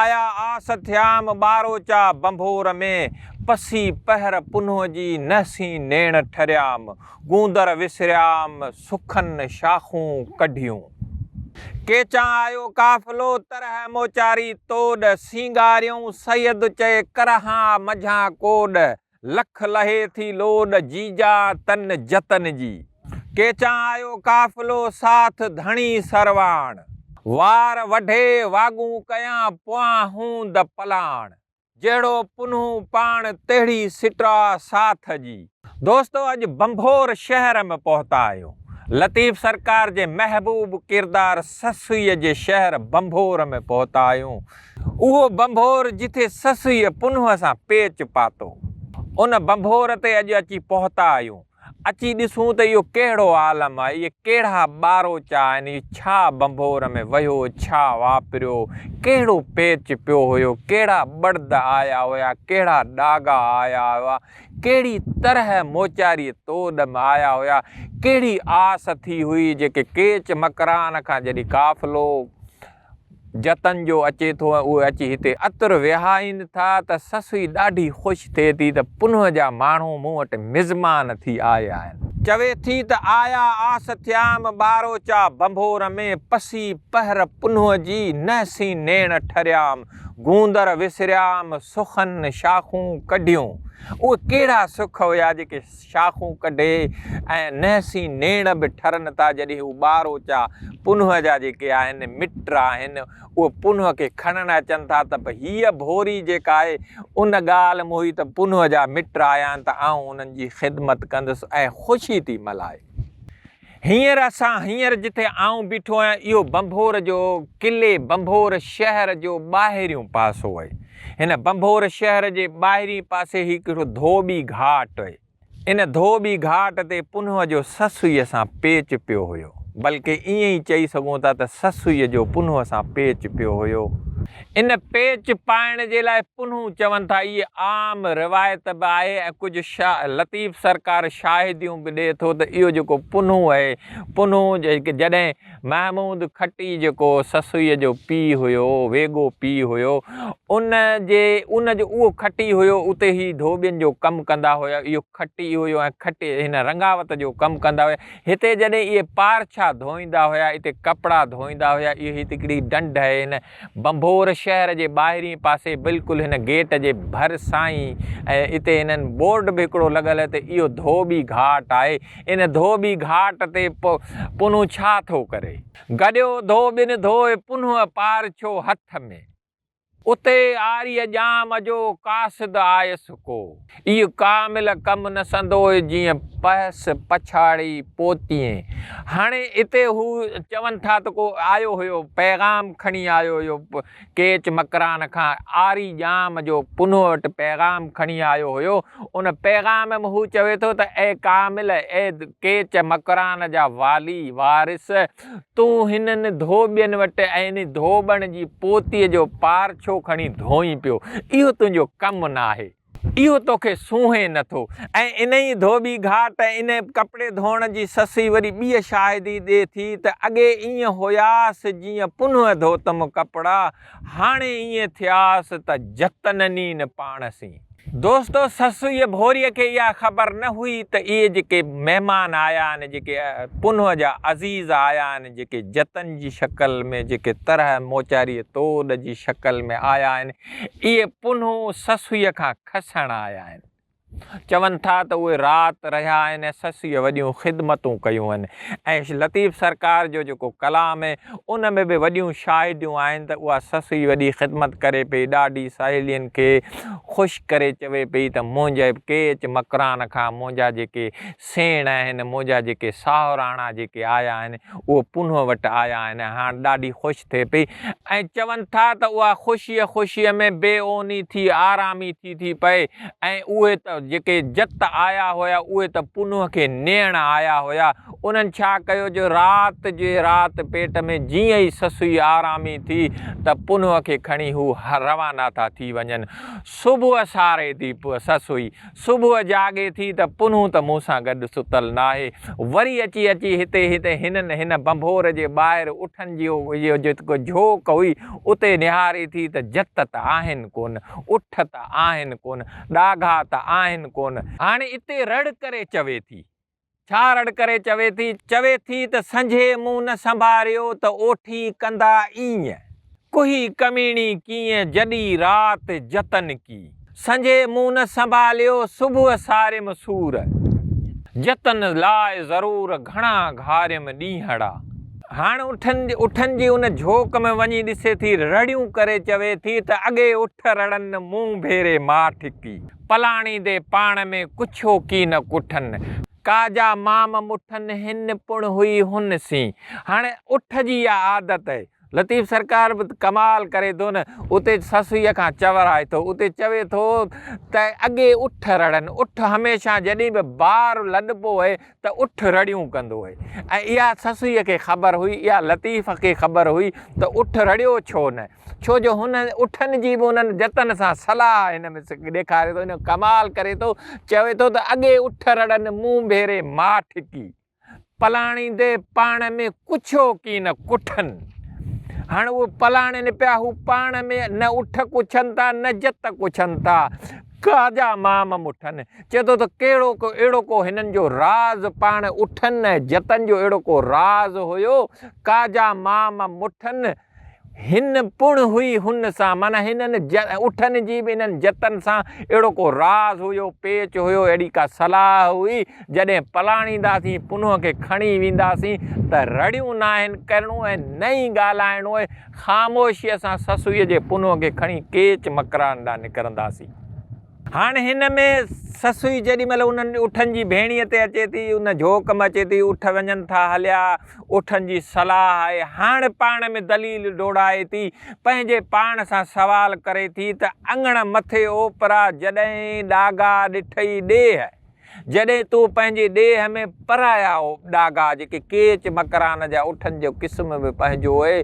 آيا آس ٿيام ٻاروچا ڀنڀور ۾، پسي پهر پنهون جي نهسين نيڻ ٺريام، گوندر وسريام سخن شاخون ڪڍيون. ڪيچان آيو قافلو طرح موچاري توڏ، سينگاريون سيد چئي ڪرهان منجهان ڪوڏ، لک لهي ٿي لوڏ جيجا تن جتن جي. ڪيچان آيو قافلو ساٿ ڌڻي سرواڻ. وار وڍي واڳون ڪيان پويان هوند پلاڻ. جهڙو پنهون پاڻ تهڙي سٽاء ساٿ جي. دوستو اڄ بنڀور شهر م پهتا آهيون. لطيف سرڪار جي محبوب ڪردار سسئي جي شهر بنڀور م پهتا آهيون. اهو ڀنڀور جٿي سسئيء پنهونء سان پيچ پاتو، ان ڀنڀور تي اڄ اچي پهتا آهيون. اچي ڏسون ته اهو ڪهڙو عالم آهي، اهي ڪهڙا ٻاروچا آهن، اهو ڇا ڀنڀور ۾ وهيو، ڇا واپريو، ڪهڙو پيچ پيو هيو، ڪهڙا ٻڙد آيا هيا، ڪهڙا ڏاڳا آيا هيا، ڪهڙي طرح موچاريء توڏ م آيا هيا، ڪهڙي آس ٿي هئي، جيڪي ڪيچ مڪران کان جڏهن قافلو. جتن جو اچي ٿو ۽ اهي اچي هتي عطر وهائين ٿا ته سسئي ڏاڍي خوش ٿئي ٿي ته پنهون جا ماڻهو مون وٽ مزمان ٿي آيا آهن. چوي ٿي ته آيا آس ٿيام ٻاروچا ڀنڀور ۾، پسي پهر پنهون جي نهسين نيڻ ٺريام، گوندر وسريام سخن شاخون ڪڍيون. اهي ڪهڙا سک هيا جيڪي. شاخون ڪڍي ۽ نحسين نيڻ به ٺرن ٿا جڏهن هو ٻار اوچا پنهون جا جيڪي آهن مٽ آهن اهي پنهون کي کڻڻ اچن ٿا ته به هيء ڀوري جيڪا آهي ان ڳالهه م هئي ته پنهون جا مٽ آيا آهن ته آئون انهن جي خدمت ڪندس ۽ خوشي ٿي ملهائي. هينئر اسان هينئر جتي آئون بيٺو آهيان اهو بنڀور جو قلعي بنڀور شهر جو ٻاهريون پاسو اهي. هن بنڀور شهر جي ٻاهرين پاسي هڪ هڪڙو ڌوٻي گهاٽ اهي. ان ڌوٻي گهاٽ تي پنهوء جو سسئيء سان پيچ پيو هيو. بلڪه ائين ئي چئي سگهون ٿا ته سسئيء جو پنهوء سان پيچ پيو هيو. ان پيچ پائڻ جي لاء پنهون چون ٿا اهي عام روايت به آهي ۽ ڪجهه شاهه لطيف سرڪار شاهديون به ڏئي ٿو ته اهو جيڪو پنهون اهي پنهون جڏهن محمود کٽي جيڪو سسئيء جو پيء هيو ويڳو پيء هيو ان جي ان جو اهو کٽي هيو اتي هي ڌوٻين جو ڪم ڪندا هيا اهو کٽي هيو ۽ کٽي هن رنگاوت جو ڪم ڪندا هيا هتي جڏهن اهي پارڇا ڌوئيندا هيا اتي ڪپڙا ڌوئيندا هيا اهي هتڪڙي ڊنڊ اهي هن ڀنڀور شهر جي ٻاهرين پاسي بلڪل هن گيٽ جي ڀر سان ئي ۽ اتي هنن بورڊ به هڪڙو لڳل ته اهو ڌوٻي گهاٽ آهي. ان ڌوٻي گهاٽ تي پ پنهون ڇا ٿو ڪري؟ گڏيو ڌوٻين ڌوئي پنهون پار ڇو هٿ ۾. اتي آريء ڄام جو قاصد آيس ڪو. اهو ڪامل ڪم نه سندوئي جيئن پهس پڇاڙي پوتيئين. هاڻي اتي هو چون ٿا ته ڪو آيو هيو، پيغام کڻي آيو هيو، ڪيچ مڪران کان آري ڄام جو پنهو وٽ پيغام کڻي آيو هيو، ان پيغام م هو چوي ٿو ته اي ڪامل، اي ڪيچ مڪران جا والي، وارث، تون هنن ڌوٻين وٽ ۽ انهي ڌوٻڻ جي پوتيء جو پار ڇو کڻي ڌوئين پيو؟ اهو تنهنجو ڪم نه آهي. اهو توکي سونهين نه ٿو. ۽ انهي ڌوٻي گهاٽ ۽ انهي ڪپڙي ڌوئڻ جي سسئي وري ٻيء شاهدي ڏي ٿي ته اڳي ائين هياس جيئن پنهون ڌوتم ڪپڙا، هاڻي ائين ٿياس ته جتننين پاڻ سين. دوستو سسئيء ڀوريء کي اها خبر نه هئي ته اهي جيڪي مهمان آيا آهن، جيڪي پنهون جا عزيز آيا آهن، جيڪي جتن جي شڪل ۾ جيڪي طرح موچاريء توڏ جي شڪل ۾ آيا آهن، اهي پنهون سسئيء کان کسڻ آيا آهن. چون ٿا ته اهي رات رهيا آهن ۽ سسيء وڏيون خدمتون ڪيون آهن ۽ لطيف سرڪار جو جيڪو ڪلام آهي ان ۾ به وڏيون شاهديون آهن ته اها سسئي وڏي خدمت ڪري پئي ڏاڏي سهيلين کي خوش ڪري چوي پئي ته منهنجي ڪيچ مڪران کان منهنجا جيڪي سيڻ آهن، منهنجا جيڪي ساهراڻا جيڪي آيا آهن، اهي پنهون وٽ آيا آهن ۽ هاڻ ڏاڍي خوش ٿئي پئي ۽ چون ٿا ته اها خوشيء خوشيء ۾ بي اوني ٿي آرامي ٿي ٿي پئي ۽ اهي ته جيڪي جت آيا هيا، اهي ته پنهون کي نيڻ آيا هيا. انهن ڇا ڪيو جو رات جي رات پيٽ ۾ جيئن ئي سسئي آرامي ٿي ته پنهون کي کڻي هو روانا ٿا ٿي وڃن. صبح ساري ٿي سسئي صبح جاڳي ٿي ته پنهون ته مون سان گڏ ستل ناهي، وري اچي اچي هتي هي ته هنن هن ڀنڀور جي ٻاهر اٺن جي اهو جيڪو جهوڪ هئي اتي نهاري ٿي ته جت ته آهن ڪونه، اٺ ته آهن ڪونه، ڏاگها ته آهن ڪونه. هاڻي اتي رڙ ڪري چوي ٿي ڇا رڙ ڪري چوي ٿي. چوي ٿي ته سنجهي منهن نه سنڀاريو ته اوٺي ڪندا ايئن. ڪهي ڪميڻي ڪيئن جڏي رات جتن ڪي. سنجهي منهن نه سنڀاليو صبح ساريم سور. جتن لاء ضرور گهڻا گهاريم ڏينهڙا. هاڻ اٺن اٺن جي ان جهوڪ ۾ وڃي ڏسي ٿي رڙيون ڪري چوي ٿي ته اڳي اٺ رڙن مون ڀيري ماٺ ڪي. پلاڻي دي پاڻ ۾ ڪڇو ڪي نه ڪٺن، ڪا جا مام مٺن هن پڻ هئي هن سين. هاڻي اٺ جي اها عادت آهي. لطيف سرڪار به ڪمال ڪري ٿو نه، اتي سسئيء کان چورائي ٿو، اتي چوي ٿو ته اڳي اٺ رڙن، اٺ هميشه جڏهن به بار لڏبو هئي ته اٺ رڙيون ڪندو هئي ۽ اها سسئيء کي خبر هئي، اها لطيف کي خبر هئي ته اٺ رڙيو ڇو نه، ڇو جو هن اٺن جي به انهن جتن سان صلاح هن ۾ ڏيکاري ٿو، هن ڪمال ڪري ٿو، چوي ٿو ته اڳي اٺ رڙن مون ڀيري ماٺ ڪي، پلاڻي دي پاڻ ۾ ڪڇو ڪي نه ڪٺن. هاڻ اهي پلاڻين پيا، هو پاڻ ۾ نه اٺ ڪڇن ٿا نه جت ڪڇن ٿا. خواجه مام مٺن چئي ٿو ته ڪهڙو ڪو اهڙو ڪو هنن جو راز پاڻ اٺن ۽ جتن جو اهڙو ڪو راز هيو خواجه مام مٺن هن پڻ هئي هن سان معنيٰ هنن اٺن جي به انهن جتن سان اهڙو ڪو راز هيو پيچ هيو اهڙي ڪا صلاح هئي جڏهن پلاڻينداسين پنهونء کي کڻي وينداسين ته رڙيون ناهن ڪرڻون ۽ نه ئي ڳالهائڻو خاموشيء سان سسئيء جي پنهون کي کڻي ڪيچ مڪران ڏانهن نڪرنداسين. هاڻ هن ۾ سسئي جيڏي مهل انهن اٺن جي ڀيڻيء تي اچي ٿي، ان جهوڪ ۾ اچي ٿي، اٺ وڃن ٿا هليا، اٺن جي صلاح آهي، هاڻ پاڻ ۾ دليل ڊوڙائي ٿي، پنهنجي پاڻ سان سوال ڪري ٿي ته اڱڻ مٿي اوپرا جڏهين ڏاگا ڏٺئي ڏيهه. جڏهن تو پنهنجي ڏيهه ۾ پرايا ڏاگا جيڪي ڪيچ مڪران جا اٺن جو قسم به پنهنجو اهي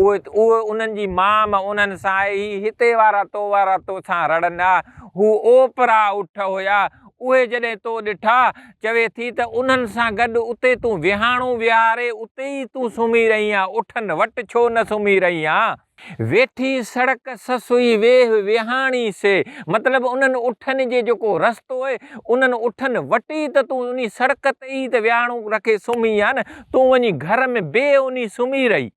اهي انهن جي مام انهن سان آهي هي هتي وارا تو وارا تو سان رڙن ها هو اوپرا اٺ هيا اهي جڏهن تو ڏٺا چوي ٿي ته انهن سان گڏ اتي تون وهاڻو وهاري اتي ئي تون سمهي رهين ها اٺن وٽ ڇو نه سمهي رهين ها. ويٺي سڙڪ سسئي ويهه ويهاڻي سي مطلب انهن اٺن جي جيڪو رستو اهي انهن اٺن وٽي ته تون انهي سڙڪ تي ئي ته ويهاڻو رکي سمهي ها نه تون وڃي گهر ۾ بي انهي سمهي رهي.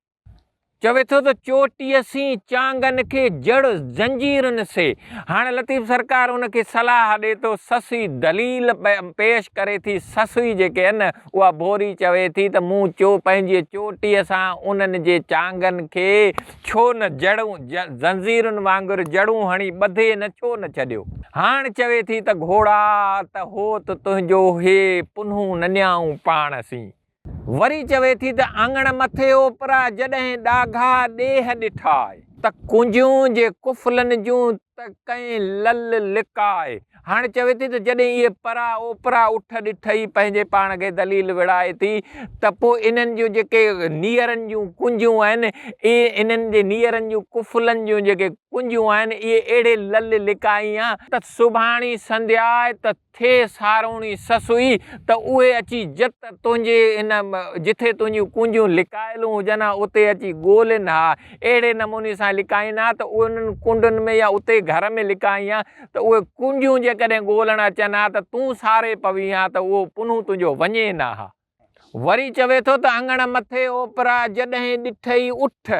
چوي ٿو ته چوٽيء سين چانگن کي جڙ زنجيرن سي هاڻ لطيف سرڪار ان کي صلاح ڏي ٿو سسئي دليل پيش ڪري ٿي سسئي جيڪي اهي نه اها ڀوري چوي ٿي ته مون چو پنهنجي چوٽيء سان انهن جي چانگن کي ڇو نه جڙون، زنجيرن وانگر جڙون هڻي ٻڌي نه ڇو نه ڇڏيو؟ هاڻ چوي ٿي ته گهوڙا ته هوت تنهنجو هي پنهون ننيائون پاڻ سين. وري چوي ٿي ته اڱڻ مٿي اوپرا جڏهن ڏاگها ڏيهه ڏٺائي. ته ڪنجهون جي قفلن جون ته ڪئين لل لڪاء. هاڻي چوي ٿي ته جڏهن اهي پرا اوپرا اٺ ڏٺ ئي پنهنجي پاڻ کي ذليل وڙهائي ٿي ته پوء انهن جون جيڪي نيئرن جون ڪنجون آهن اهي انهن جي نيئرن جون ڪفلن جون جيڪي ڪنجون آهن اهي اهڙي لل لڪائين آ ته سڀاڻي سنڌياء ته ٿئي ساروڻي سسئي ته اهي اچي جت تنهنجي ان جٿي تنهنجون ڪنجون لڪايل هجن ها اتي اچي ڳولين ها اهڙي نموني سان لڪائين ها ته اهي انهن ڪنڊن ۾ يا اتي گهر ۾ لڪائين ها ته اهي ڪنجون جيڪڏهن ڳولڻ اچن ها ته تون ساري پوين ها ته اهو پنهون تنهنجو وڃي نه ها. وري چوي ٿو ته اڱڻ مٿي اوپرا جڏهين ڏٺئي اٺ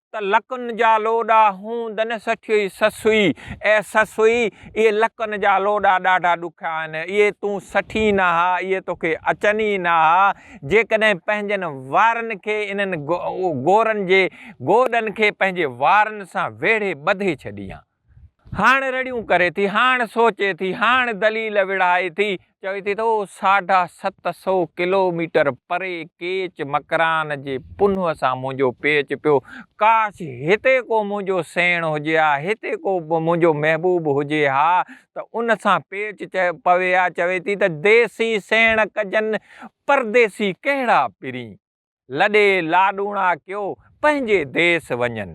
ته لڪن جا لوڏا هون دنه سٺيئي سسئي، اي سسئي! اهي لڪن جا لوڏا ڏاڍا ڏکيا آهن. اهي تون سٺين نه ها، اهي توکي اچن ئي نه ها. جيڪڏهن پنهنجن وارن کي انهن گورن جي گوڏن کي پنهنجي وارن سان ويڙهي ٻڌي ڇڏينء ها. هاڻ رڙيون ڪري ٿي، هاڻ سوچي ٿي، هاڻ دليل وڙهائي ٿي، چوي ٿي ته اهو ساڍا ست سو ڪلوميٽر پري ڪيچ مڪران جي پنهون سان منهنجو پيچ پيو، ڪاش هتي ڪو منهنجو سيڻ هجي ها، هتي ڪو منهنجو محبوب هجي ها ته ان سان پيچ پوي ها، چوي ٿي ته ديسي سيڻ ڪجن، پرديسي ڪهڙا پرين. لڏي لاڏوڻا ڪيو پنهنجي ديس وڃن.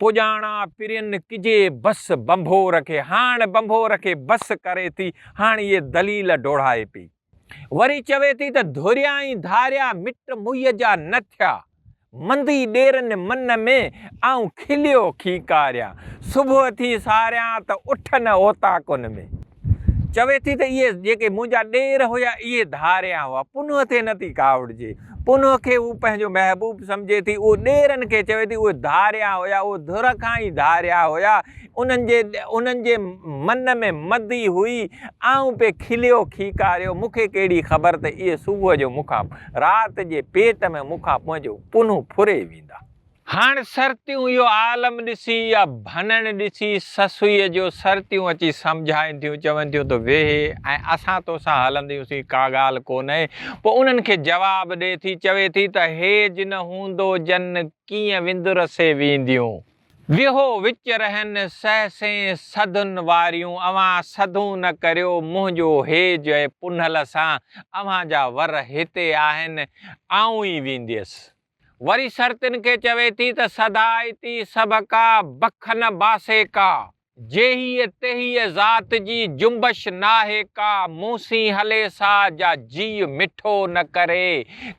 پڄاڻا پرين ڪجي بس بنڀور کي. هاڻ بنڀور کي بس ڪري ٿي هاڻ اهي دليل ڊوڙائي پئي. وري چوي ٿي ته ڌريائين ڌاريا مٽ موئي جا نه ٿيا. مندي ڏيرن من ۾ آئون کليو کيڪاريان. صبح ٿي ساريان ته اٺ نه اوطاقن ۾. چوي ٿي ته اهي جيڪي منهنجا ڏير هيا اهي ڌاريا هئا. پنهونء تي نه ٿي ڪاوڙجي. پنهونء کي هو پنهنجو محبوب سمجهي ٿي. اهو ڏيرن کي چوي ٿي اهي ڌاريا هيا، اهي ڌر کان ئي ڌاريا هيا. انهن جي انهن جي من ۾ مدي هئي. آئون پئي کليو کيڪاريو. مون کي ڪهڙي خبر ته اهي صبح جو مون کان رات جي پيٽ ۾ مون کان پنهنجو پنهون ڦري ويندا. هاڻ سرتيون اهو عالم ڏسي يا ڀنڻ ڏسي سسئيء جو سرتيون اچي سمجهائين ٿيون، چون ٿيون ته ويهه ۽ اسان توسان هلنديون سين، ڪا ڳالهه ڪونه، پوء انهن کي جواب ڏئي ٿي، چوي ٿي ته هيج نه هوندو جن ڪيئن وندرسي وينديون. ويهو وچ رهن سهسين سڌن واريون، اوهان سڌون نه ڪريو، منهنجو هيج اهي پنهل سان، اوهان جا ور هتي آهن، آئون ئي وينديس. وري سرتين کي چوي ٿي ته سڌائتي سڀ ڪا، بک نه باسي ڪا. جيهيء تيهيء ذات جي، جنبش ناهي ڪا. مون سين هلي سا، جا جيء مٺو نه ڪري.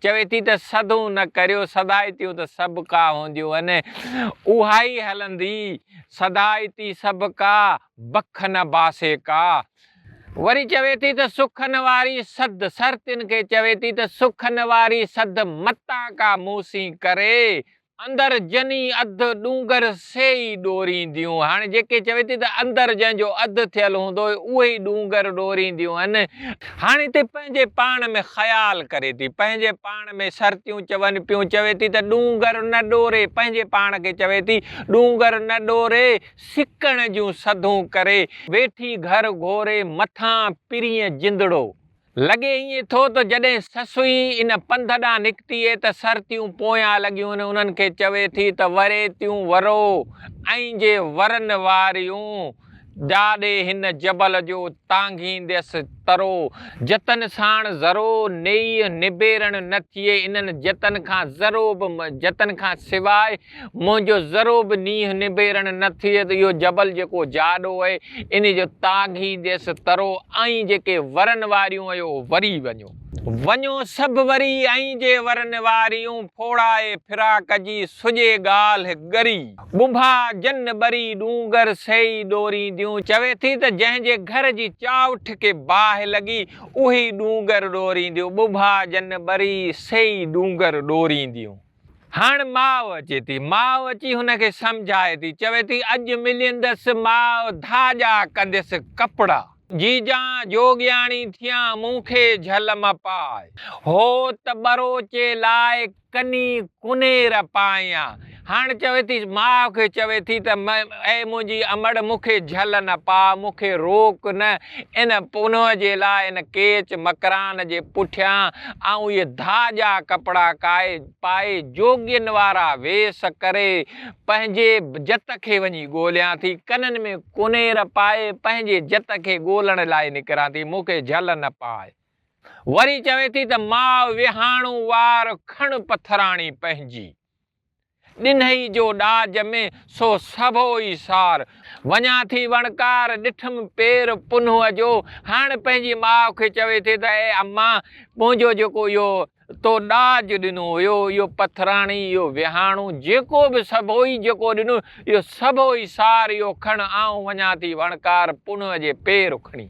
چوي ٿي ته سڌون نه ڪريو، سڌائتيون ته سڀ ڪا هونديون هن. اهائي هلندي، سڌائتي سڀ ڪا، بک نه باسي ڪا. وري چوي ٿي ته سخن واري سڌ سر تن کي چوي ٿي ته سخن واري سڌ متان ڪا مون سين ڪري، اندر جني اڌ ڏونگر سي ئي ڏورينديون. هاڻي جيڪي چوي ٿي ته اندر جنهن جو اڌ ٿيل هوندو اهي ئي ڏونگر ڏورينديون هن. هاڻي هتي پنهنجي پاڻ ۾ خيال ڪري ٿي، پنهنجي پاڻ ۾ سرتيون چون پيون، چوي ٿي ته ڏونگر نه ڏوري، پنهنجي پاڻ کي چوي ٿي ڏونگر نه ڏوري، سڪڻ جون سڌون ڪري ويٺي گهر گهوري مٿان پرينء جندڙو. لڳي ائين ٿو ته جڏهن سسئي ان پنڌ ڏانهن نڪتي هي ته سرتيون پويان لڳيون انهن کي چوي ٿي ته وري تيون ورو ۽ جي ورن واريون جاڏي هن جبل جو تانگهينديس ترو جتن ساڻ ذرو نيئي نبيرڻ نه ٿئي انهن جتن کان ذرو به جتن کان سواء منهنجو ذرو به نينهن نبيرڻ نه ٿئي ته اهو جبل جيڪو جاڏو اهي انهي جو تاگهي ديس ترو ۽ جيڪي ورن واريون اهيو وري وڃو. وڃو سڀ وري ۽ جي ورن واريون ڦوڙائي فراق جي سڄي ڳالهه ڳري. ٻنڀا جن ٻري ڏونگر سئي ڏورينديون چوي ٿي ته جنهن جي گهر جي چاؤٺ کي باهه لڳي اهي ئي ڏونگر ڏورينديون ٻنڀا جن ٻري سئي ڏونگر ڏورينديون. هاڻ ماء اچي ٿي. ماء اچي هن کي سمجهائي ٿي. چوي ٿي اڄ مليندس ماء ڌاڄا ڪنديس ڪپڙا. جيجان جوڳياڻي ٿيان مون کي جهل م پاء. هو ته ٻروچي لاء ڪني ڪنير پائيان. هاڻ چوي ٿي ماء کي چوي ٿي ته اي منهنجي امڙ مون کي جهل نه پاء مون کي روڪ نه ان پنهونء جي لاء ان ڪيچ مڪران جي پٺيان آئون اهي ڌاڄا ڪپڙا ڪائي پائي جوڳين وارا ويس ڪري پنهنجي جت کي وڃي ڳوليان ٿي، ڪنن ۾ ڪنير پائي پنهنجي جت کي ڳولڻ لاء نڪران ٿي، مون کي جهل نه پاء. وري چوي ٿي ته ماء وهاڻو وار کڻ پٿراڻي پنهنجي. ڏنهي جو ڏاج ۾، سو سڀو ئي سار. وڃان ٿي وڻڪار، ڏٺم پير پنهونء جو. هاڻ پنهنجي ماء کي چوي ٿي ته اي اما! منهنجو جيڪو اهو تو ڏاج ڏنو هيو، اهو پٿراڻي، اهو ويهاڻو، جيڪو به سڀو ئي جيڪو ڏنو، اهو سڀو ئي سار، اهو کڻ، آئون وڃان ٿي وڻڪار پنهونء جي پير کڻي.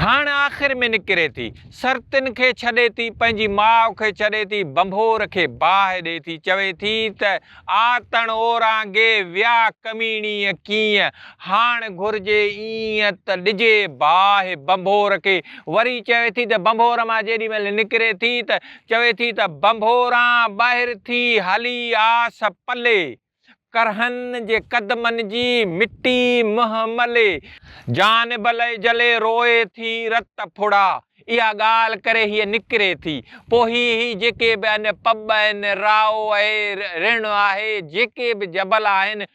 هاڻ آخر ۾ نڪري ٿي. سرتين کي ڇڏي ٿي، پنهنجي ماء کي ڇڏي ٿي، ڀنڀور کي باهه ڏئي ٿي، چوي ٿي ته آتڻ اورانگي ويا ڪميڻيء ڪيئن هاڻ گهرجي ايئن ته ڏجي باهه ڀنڀور کي، وري چوي ٿي ته ڀنڀور مان جيڏي مهل نڪري ٿي ته چوي ٿي ته ڀنڀوران ٻاهر ٿي هلي آس پلي. ڪرهن جي قدمن جي مٽي منهن ملي. جان بلئي جلي روئي ٿي رت ڦڙا. اها ڳالهه ڪري هيء نڪري ٿي. پوء هي هي جيڪي به ان پٻ ۽ رائو اهي رڻ آهي، جيڪي به جبل آهن،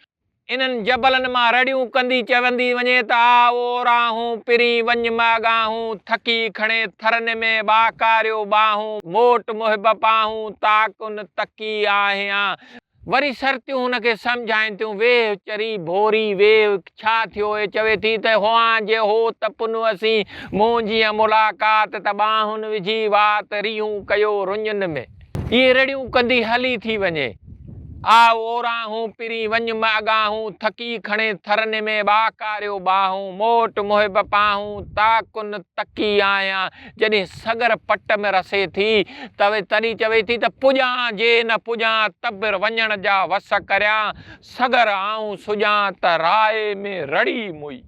انهن جبلن مان رڙيون ڪندي چوندي وڃي ته آء او راهون پرين وڃ ماڳاهون ٿڪي کڻي ٿرن ۾ ٻاڪاريو ٻاهون موٽ محب پاهون تاڪن تڪي آهيان. وري سرتيون هن کي سمجهائين ٿيون، ويهه چري ڀوري، ويهه ڇا ٿيو اهي چوي ٿي ته هئان جي هو ته پنو اسين، مون جيئن ملاقات ته ٻانهن وجهي وات، ريهون ڪيو رڃن ۾. اهي رڙيون ڪندي هلي ٿي وڃي، آء اوراهون پرين وڃ م اڳاهون، ٿڪي کڻي ٿرني ۾ ٻاڪاريو ٻانهون، موٽ محب پانهون، تاڪن تڪي آهيان، جڏهن سڳر پٽ ۾ رسي ٿي ته تڏهن چوي ٿي ته پڄان جي نه پڄان تبر وڃڻ جا وس ڪريان سڳر آئون سڄان ته راء ۾ رڙي موئي.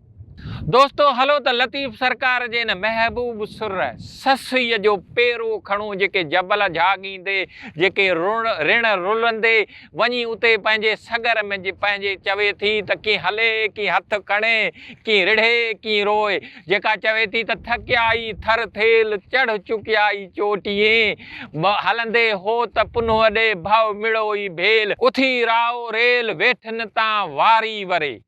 دوستو هلو ته لطيف سرڪار جي ان محبوب سر سسئي جو پيرو کڻون جيڪي جبل جهاڳيندي جيڪي رڻ رلندي، وڃي اتي پنهنجي سڳر ۾ جي پنهنجي چوي ٿي ته ڪي هلي، ڪي هٿ کڻي، ڪي رڙهي، ڪي روئي. جيڪا چوي ٿي ته ٿڪيائي ٿر ٿيل، چڙهه چڪيائي چوٽيين. به هلندي هو ته پنهوء ڏي ڀؤ مڙئو ئي ڀيل. اٿي راء ريل، ويٺن تان واري وري.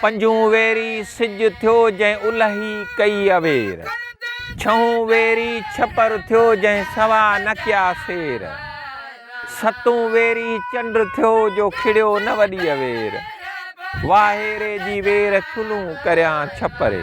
پنجون ويري سج ٿيو جنهن الهي ڪئي اوير. ڇهون ويري ڇپر ٿيو جنهن سوا نه ڪيا سير. ستون ويري چنڊ ٿيو جو کڙيو نه وڏي اوير. واهيري جي وير چلون ڪريان ڇپري.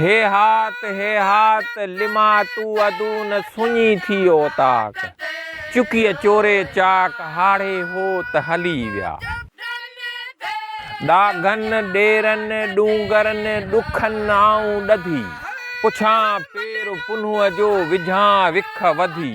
هيهات هيهات لما تو ادون سڃي ٿي اوطاق. چڪيء چوري چاڪ هاڙهي هوت هلي ويا. ڏاگهن ڏيرن ڏونگرن ڏکن آئون ڏڌي. پڇان پير پنهونء جو وجهان وک وڌي.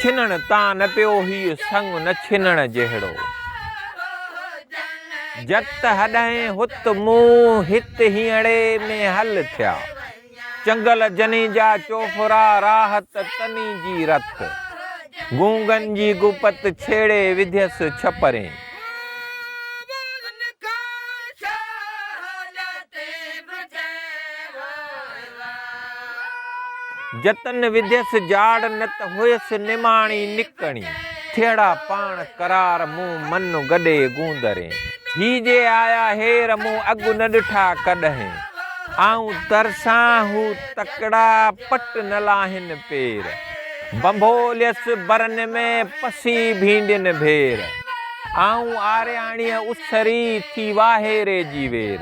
ڇنڻ تان نه پيو هيء سڱ نه ڇنڻ جهڙو. جت هڏهين هت مون هت هينئڙي ۾ هل ٿيا. چنگل جني جا چوڦرا راحت تني جي رت. گونگن جي گپت ڇيڙي وڌيس ڇپرين. جتن وڌيس جاڙ نت هئيس نماڻي نڪڻي. ٿيڙا پاڻ قرار مون من گڏي گوندرين. هي جي آيا هير مون اڳ نه ڏٺا ڪڏهين. آئون ترسان هو تڪڙا پٽ نه لاهين پير. بنڀوليس برن ۾ پسي ڀينڊين ڀير. آئون آرياڻيء اسري ٿي واهيري جي وير.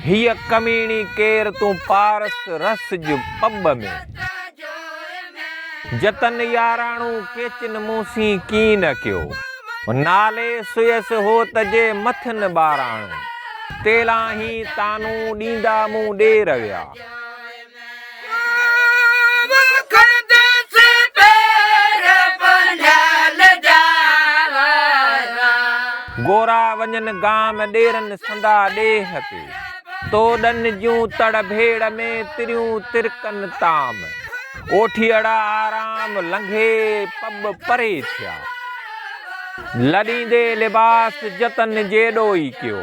هيء ڪميڻي ڪير تون پارس رس ج پٻ ۾. جتن ياراڻو ڪيچن مون سين ڪين نه ڪيو. نالي سيس هو ته جي مٿن ٻاراڻو. تيلاهين تانون ڏيندا مون ڏي رويا. گورا وڃن گام ڏيرن سندا ڏيھ تي. تو ڏن جون تڙ ڀيڙ ۾ تريون ترڪن تام. اوٺيئڙا آرام لنگھي پٻ پري ٿيا. لڏيندي لباس جتن جيڏو ئي ڪيو.